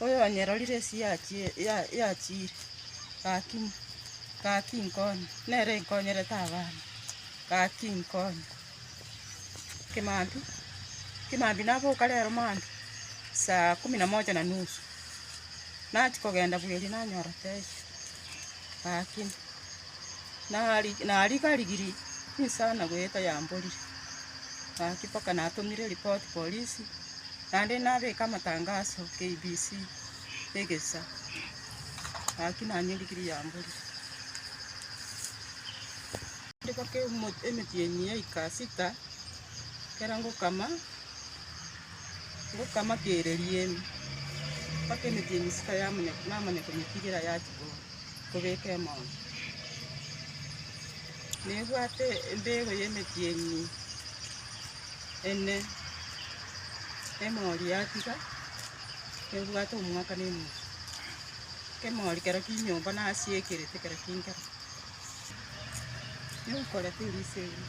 Oyonyerorire esi yachi- ya- yachire, gaki gaki nkonye, nere nkonyerete abana, gaki nkonye. Kimambi, Kimambi naboka rero mambia, saa kumi na moja na nusu, nachia kogenda bweeria nanyora taiyo, gaki nari- nariga rigirii chinsa nago yaeta yamborire, gaki mpaka natomire ripoti polisi. Naende nabeke amatangaso KBC egesa gaki nanywe endigiri ya mbori. Ndibake emetienyi ya ika sita ekero ngokama, ngokama kere riembe mpaka emetienyi sita yamanya namanya konyetigera yachia kobeka emoume. Nebwate embegu ya emetienyi. ene emori yatiga nebwate omwaka na enusu. Kemori kero kinyomba nasiekerete kero kinkera. Nyekorete erisa eria.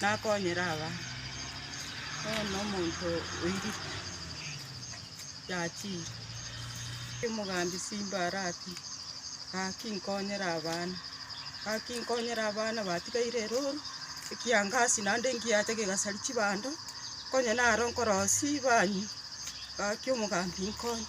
Nakonyire aba, ee, nomonto oirite, yachire. Omogambi Simba arati, Gaki nkonyire abana, gaki nkonyire abana batigaire erooro, ekiangasi naende engiacha gegasari chibando, konye naro nkorosia banywe, gaki omogambi nkonye.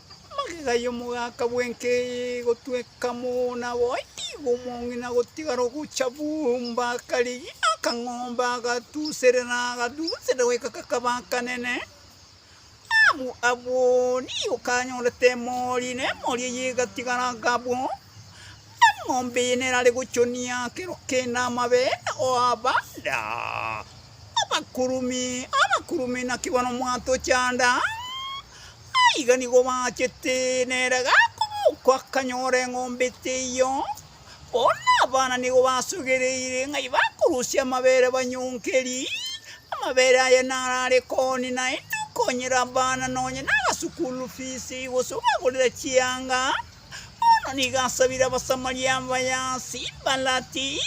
Amagega y'omogaka bw'enka eye egotweka mo, naboigo omong'ina gotigara ogocha bumba akarigia akang'ombe, agatuserera, agatuserera goika kakaba akanene. Abu Aboni okanyorete emori, na emori eye egatigara gabo. Eng'ombe eye nerare gochonia kero kende amabere oabanda abakurumi, abakurumi naki bono mwatochanda. Naiga nigo bachete, nere gakoboko akanyora eng'ombe teiyo. Bono abana nigo basogereire ng'ai bakorusia amabere banyongeri. Amabere aya narare koni naende okonyera abana nonye naga sukuru fisi gose obagorera chianga. Bono nigo asabire Abasamaria abaya ase imbarati,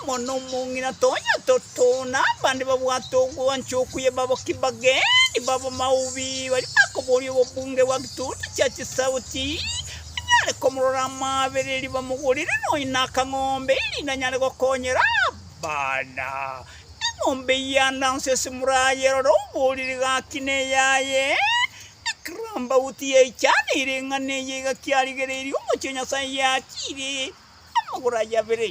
amo nomong'ina tonya toto, na abande babwate ogwancha okuya baboki bageni b'abamaobi, baria bakoboria obobunge bwa gituutu chia chisauti, banyare komorora amaabereri, bamogorere nonya nakang'ombe, erinde anyare gokonyera abana. Eng'ombe eyio ande anso ase mora aye, rora oboriri gaki neyaye. Ekerombauti yaichanire ing'ana eye iga kiarigereirie omochie o Nyasae yachiire amagoro aye abere.